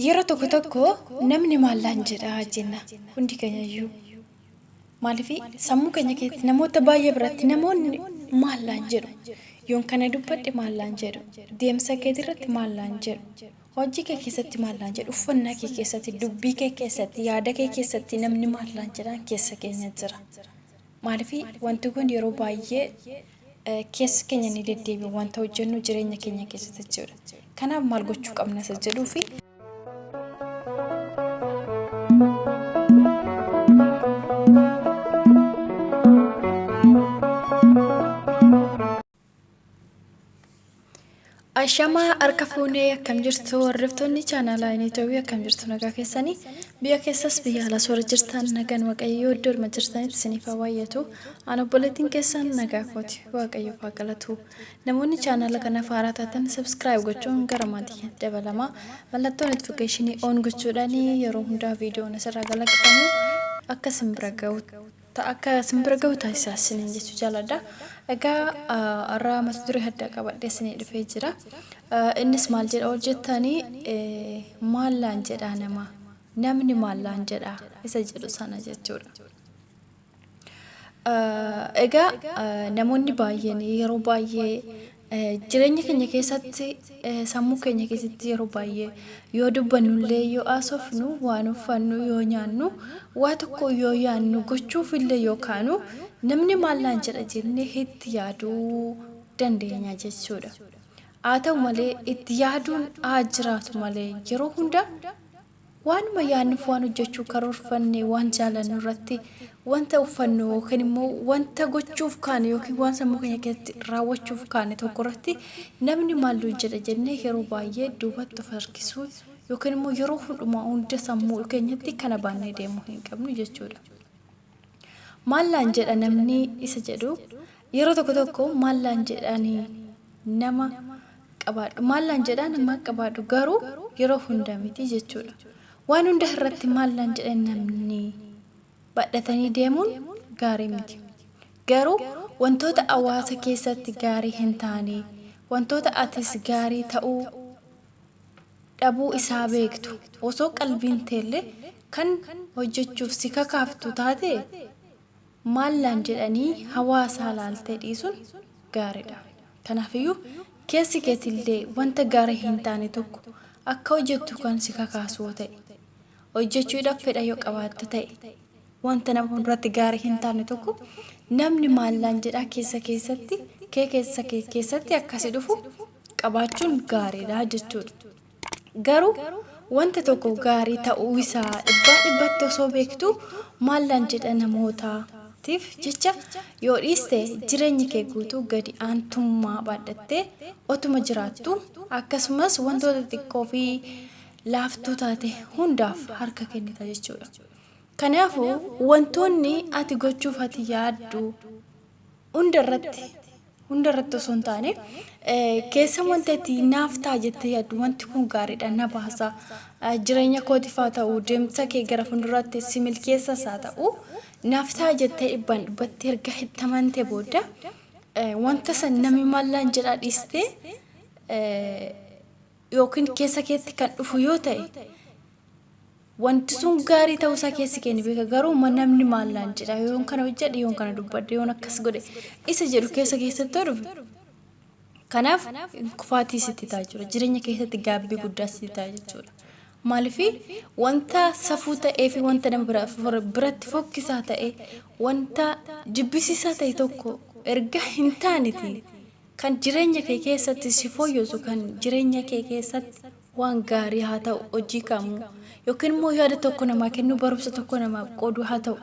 Yeroo tokko tokko namni maallaan jedha jenna hundi keenya iyyuu. Maaliif sammuu keenya keessatti namoota baay'ee biratti namoonni maallaan jedhu. Yoon kana dubbadhe maallaan jedhu. Deemsa keetii irratti maallaan jedhu. Hojii kee keessatti maallaan jedhu. Uffannaa kee keessatti, dubbii kee keessatti, yaada kee keessatti namni maallaan jedhaan keessa keenya jira. Maaliif wanti kun yeroo baay'ee Keessi keenya ni deddeebi'a. Wanta hojjennu jireenya keenya keessatti jechuudha. Kanaaf maal gochuu qabna isa jedhuu fi Ashamaa harka fuunee akkam jirtu hordoftoonni chaanaalaa Initoobii akkam jirtu nagaa keessanii biyya keessas biyya alaas warra jirtan nagaan waaqayyoo iddoo dhuma jirtanitti isiniif haa baay'atu an obboleettiin keessan nagaa kooti waaqayyoo haa galatu namoonni chaanaala kanaaf haaraa taatan sabskiraayib gochuun gara maatii dabalamaa mallattoo notifikeeshinii oon gochuudhaan yeroo hundaa viidiyoon asirraa galaqifamu akka isin bira ga'u ta akka isin bira gahu taasisaa isiniin jechuu jaaladha. Egaa har'a mata duree addaa qabadhee isinii dhufee jira. Innis maal jedha ol jettanii maal laan jedhaa namaa namni maal laan jedhaa isa jedhu sana jechuudha. Egaa namoonni baay'een yeroo baay'ee Jireenya keenya keessatti sammuu keenya keessatti yeroo baay'ee yoo dubbannullee yoo haasofnu waan uffannu yoo nyaannu waa tokko yoo yaannu gochuufillee yoo kaanu namni maal naan jedha jennee itti yaaduu dandeenya jechuudha. Haa ta'u malee itti yaaduun haa jiraatu malee yeroo hunda Waanuma yaadnuuf waan hojjechuu karoorfanne, waan jaalannu irratti wanta uffannu yookiin immoo wanta gochuuf kaane yookiin waan sammuu keenya keessatti raawwachuuf kaane tokko irratti namni maal nuun jedha jennee yeroo baay'ee duubatti of harkisuu yookiin immoo yeroo hundumaa hunda sammuu keenyatti kana baannee deemuu hin qabnu jechuudha. Maal naan jedha namni isa jedhu yeroo tokko tokko maal naan jedhani nama qabaadhu maal naan jedhaa nama qabaadhu garuu yeroo hunda miti jechuudha. Waan hunda irratti maal naan jedhan namni badhatanii deemuun gaarii miti. Garuu wantoota hawaasa keessatti gaarii hin taane wantoota atis gaarii ta'uu dhabuu isaa beektu osoo qalbiin teellee kan hojjachuuf si kakaaftu taate maal naan jedhanii hawaasaa laaltee dhiisuun gaariidha. Kanaafiyyuu keessi keetillee wanta gaarii hin taane tokko akka hojjattu kan si kakaasu yoo ta'e, hojjachuudhaaf fedha yoo qabaatte ta'e, wanta nama hunduratti gaarii hin taane tokko namni maal naan jedhaa keessa keessatti kee keessa kee keessatti akka si dhufu qabaachuun gaariidha jechuudha. Garuu wanta tokko gaarii ta'uu isaa dhibbaa dhibbatti osoo beektuu maal naan jedha namootaatiif jecha yoo dhiiste jireenyi kee guutuu gadi aantummaa baadhattee otuma jiraattuu akkasumas wantoota xiqqoo fi laaftuu taate hundaaf harka kennita jechuudha. Kanaafuu wantoonni ati gochuuf ati yaaddu hunda irratti hunda irratti osoo hin taane keessa wanta itti naaf ta'a jettee yaaddu wanti kun gaariidha na baasa jireenya kootiif haa ta'u deemsa kee gara fuulduraatti si milkeessas haa ta'u naaf ta'a jettee dhibbaan dhibbatti erga itti amante booda wanta san namni maallaan jedhaa dhiistee yookiin keessa keetti kan dhufu yoo ta'e Wanti sun gaarii ta'uu isaa keessi kee ni beeka, garuu ma namni maal naan jedha, yoon kana hojjedhe, yoon kana dubbadhe, yoon akkas godhe isa jedhu keessa keessatti yoo dhufe, kanaaf kufaatii sitti ta'a jechuudha. Jireenya keessatti gaabbii guddaa sitti ta'a jechuudha. Maaliifi wanta safuu ta'ee fi wanta nama bira- fora- biratti fokkisaa ta'e, wanta jibbisiisaa ta'e tokko erga hin taaneti Kan jireenya kee keessatti si fooyyesu kan jireenya kee keessatti waan gaarii haa ta'u, hojii kamuu, yookiin immoo yaada tokko namaa kennuu, barumsa tokko namaaf qooduu haa ta'u.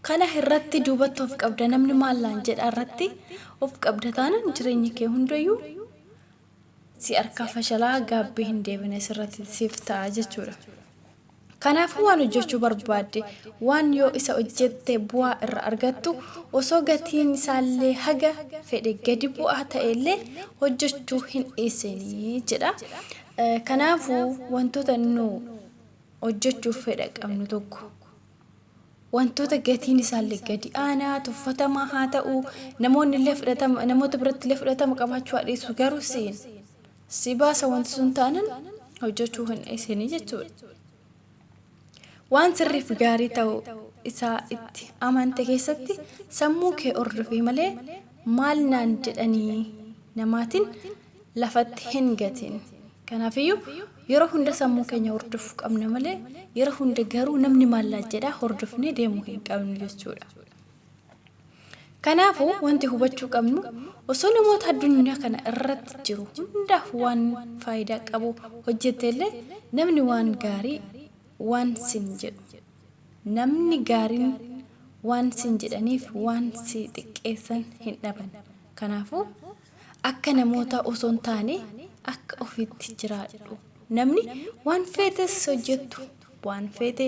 Kana irratti duubatti of qabda namni maal naan jedha irratti of qabda taanaan jireenyi kee hundayyuu si harkaa fashalaa gaabbii hin deebine sirratti siif ta'a jechuudha. Kanaafuu waan hojjechuu barbaadde waan yoo isa hojjette bu'aa irra argattu osoo gatiin isaallee haga fedhe gadi bu'aa ta'ellee hojjechuu hin dhiisinii jedha. Kanaafuu wantoota nu hojjechuuf fedha qabnu tokko Wantoota gatiin isaallee gadi aanaa, tuffatamaa haa ta'uu, namoonnillee fudhatama, namoota birattillee fudhatama qabaachuu haa dhiisu, garuu siin si baasa wanti sun taanan hojjechuu hin dhiisini jechuudha. Waan sirriif gaarii ta'uu isaa itti amante keessatti sammuu kee hordofii malee maal naan jedhanii namaatiin lafatti hin gatin. Kanaafiyyuu yeroo hunda sammuu keenya hordofuu qabna malee yeroo hunda garuu namni maallaa jedhaa hordofnee deemuu hin qabnu jechuudha. Kanaafuu wanti hubachuu qabnu osoo namoota addunyaa kana irratti jiru hundaaf waan faayidaa qabu hojjetteellee namni waan gaarii waan sin jedhu namni gaariin waan sin jedhaniif waan si xiqqeessan hin dhaban. Kanaafuu Akka namootaa osoo hin taane akka ofiitti jiraadhu. Namni waan feetes hojjettu waan feete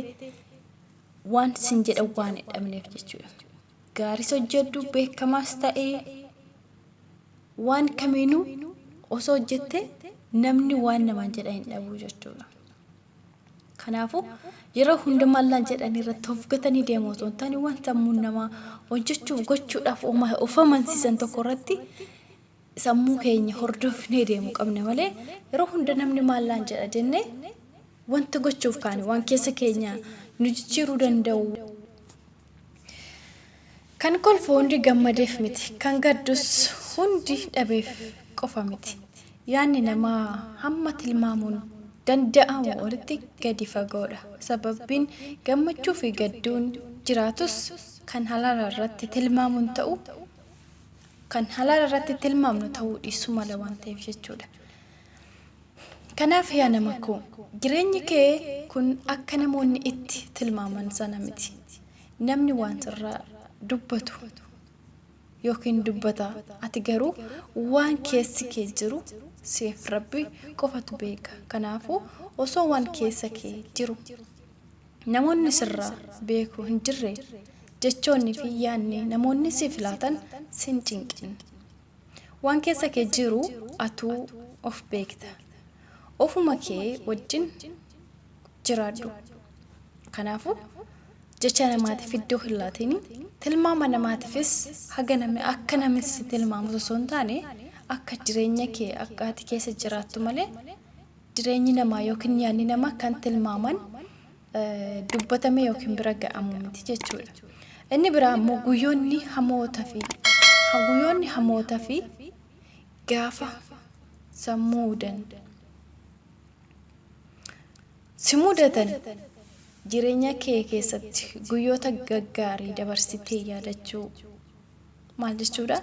waan sin jedhan waan hin dhabneef jechuudha. Gaaris hojjedhu beekamaas ta'ee waan kamiinuu osoo hojjette namni waan namaan jedha hin dhabu jechuudha. Kanaafuu, yeroo hunda mallan jedhanii irratti of gatanii deemuu osoo hin taane waan sammuun namaa hojjechuuf gochuudhaaf of amansiisan tokko irratti sammuu keenya hordofnee deemuu qabna malee yeroo hunda namni maallaan jedha jennee wanta gochuuf kaane waan keessa keenya nu jijjiiruu danda'u Kan kolfu hundi gammadeef miti, kan gaddus hundi dhabeef qofa miti. Yaadni namaa hamma tilmaamuun danda'amu olitti gadi fagoodha. Sababbiin gammachuufi gadduun jiraatus kan halaala irratti tilmaamuun ta'uu kan halaala irratti tilmaamnu ta'uu dhiisuu mala waan ta'eef jechuudha. Kanaaf yaa nama koo, jireenyi kee kun akka namoonni itti tilmaaman sana miti. Namni waan sirraa dubbatu ykn dubbata, ati garuu waan keessi kee jiru siif Rabbi qofatu beeka. Kanaafuu osoo waan keessa kee jiru namoonni sirraa beeku hin jirre, jechoonni fi yaadni namoonni siif laatan sin cinqin. Waan keessa kee jiru atuu of beekta. Ofuma kee wajjin jiraadhu. Kanaafuu, jecha namaatiif iddoo hin laatini. Tilmaama namaatiifis haga namni akka namni si tilmaamu osoo hin taane, akka jireenya kee akka ati keessa jiraattu malee, jireenyi namaa yookiin yaadni namaa kan tilmaaman dubbatamee yookiin bira ga'amu miti jechuudha. Inni biraa ammoo guyyoonni hamoota fi guyyoonni hamoota fi gaafa sammuu mudan si mudatan jireenya kee keessatti guyyoota gaggaarii dabarsitee yaadachuu maal jechuudha?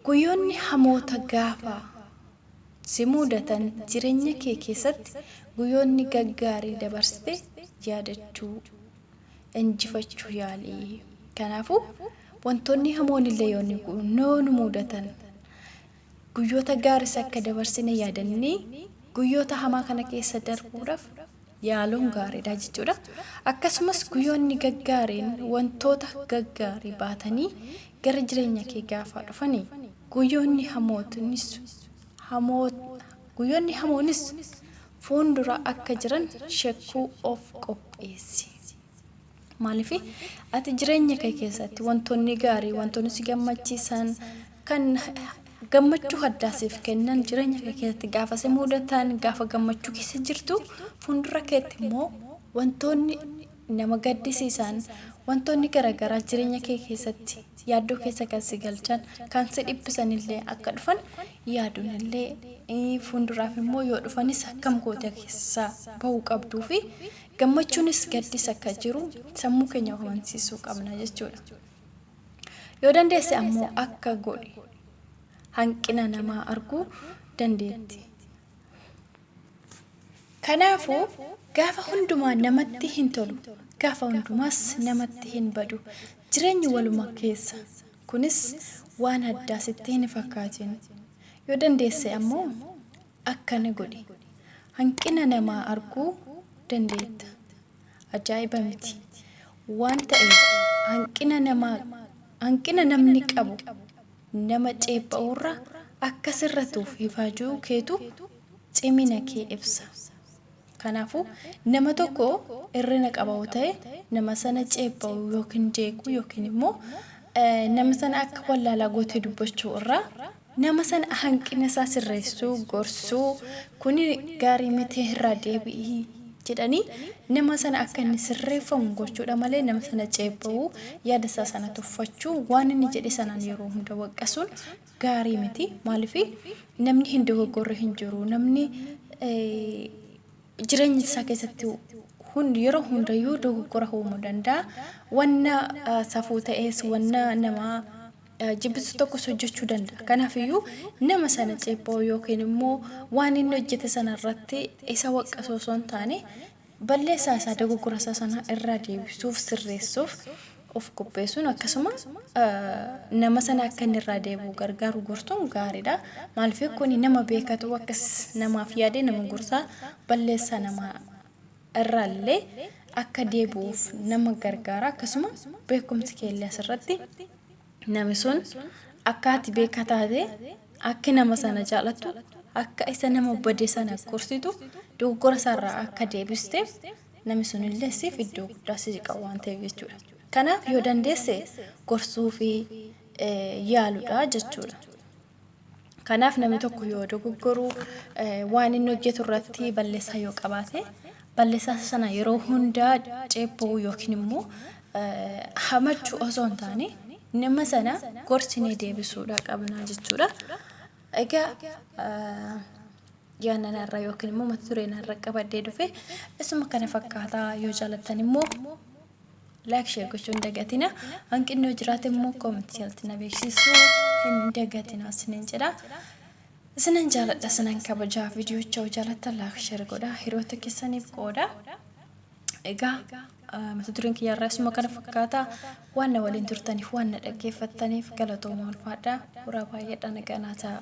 Guyyoonni hamoota gaafa si muudatan jirenya kee keessatti guyyoonni gaggaarii dabarsite yaadachuu, injifachuu yaali. Kanaafuu wantoonni hamoonillee yoo nu muudatan guyyoota gaaris akka dabarsine yaadannee guyyoota hamaa kana keessa darbuudhaaf Yaaloon gaariidha jechuudha. Akkasumas guyyoonni gaggaariin wantoota gaggaarii baatanii gara jireenya kee gaafaa dhufani guyyoonni hamootinis hamoo guyyoonni hamoonis fuundura akka jiran shakkuu of qopheessi. Maaliif? Ati jireenya kee keessatti wantoonni gaarii, wantoonni si gammachiisan, kan gammachuu addaa siif kennan jireenya kee keessatti gaafa si mudatan, gaafa gammachuu keessa jirtu, fuuldura keetti immoo wantoonni nama gaddisiisan, wantoonni garaagaraa jireenya kee keessatti yaaddoo keessa kan si galchan, kan si dhiphisan illee akka dhufan yaaduun illee fuulduraaf immoo yoo dhufanis akkam gootee keessa bahuu qabduu fi Gammachuunis gaddis akka jiru sammuu keenya of amansiisuu qabna jechuudha. Yoo dandeesse ammoo akka godhi. Hanqina namaa arguu dandeetti. Kanaafuu gaafa hundumaa namatti hin tolu, gaafa hundumaas namatti hin badu. Jireenyi waluma keessa. Kunis waan addaa sitti hin fakkaatin. Yoo dandeesse ammoo Akkana godhi. Hanqina namaa arguu dandeetta. Ajaa'iba miti! Waan ta'eef, hanqina namaa, hanqina namni qabu nama ceepha'uurra akka sirratuuf ifaajuu keetu cimina kee ibsa. Kanaafuu, nama tokko irrina qaba yoo ta'e, nama sana ceepha'uu yookiin jeequu yookiin immoo nama sana akka wallaalaa gootee dubbachuu irraa Nama sana hanqina isaa sirreessuu, gorsuu, kuni gaarii miti irraa deebi'i jedhanii nama sana akka inni sirreeffamu gochuudha malee nama sana ceepha'uu, yaada isaa sana tuffachuu, waan inni jedhe sanaan yeroo hunda waqqasuun gaarii miti. Maaliif namni hin dogoggorre hin jiru. Namni jireenya isaa keessatti hundi yeroo hundayyuu dogoggora uumuu danda'a. Wanna safuu ta'es, wanna nama jibbisiisu tokkos hojjechuu danda'a. Kanaaf iyyuu nama sana ceepha'uu yookiin immoo waan inni hojjete sana irratti isa waqqasuu osoo hin taane balleessaa isaa dogoggora isaa sana irraa deebisuuf sirreessuuf of qopheessuun akkasuma nama sana akka inni irraa deebi'u gargaaru gorsuun gaariidha. Maaliif kun nama beekatu akkas namaaf yaade nama gorsaa balleessaa namaa irraa illee akka deebi'uuf nama gargaara akkasuma beekumsi kee illee asirratti nami sun akka ati beeka taate akka nama sana jaalattu akka isa nama bade sana gorsitu dogoggora isaarraa akka deebisteef nami sun illee siif iddoo guddaa si qaba waan ta'eef jechuudha. Kanaaf yoo dandeesse gorsuu fi yaaludha jechuudha. Kanaaf namni tokko yoo dogoggoru waan inni hojjetu irratti balleessaa yoo qabaate balleessaa sana yeroo hundaa ceepha'uu yookiin immoo hamachuu osoo hin taane nama sana gorsinee deebisuudha qabnaa jechuudha. Egaa yaanna narra yookiin immoo mata duree narra qabadhee dhufe isuma kana fakkaataa yoo jaalattan immoo Like share gochuu hin dagatina. Hanqinni yoo jiraate immoo comment jalatti na beeksisuu hin dagatina isiniin jedha. Isinan jaaladha isinan kabajaa viidiyocha yoo jaalattan like share godha hiriyoota keessaniif qooda. Egaa mata dureen kiyya irraa isuma kana fakkaata waan na waliin turtaniif waan na dhaggeeffattaniif galatoomaa ulfaadha. Horaa baay'eedha nagaa naa ta'a.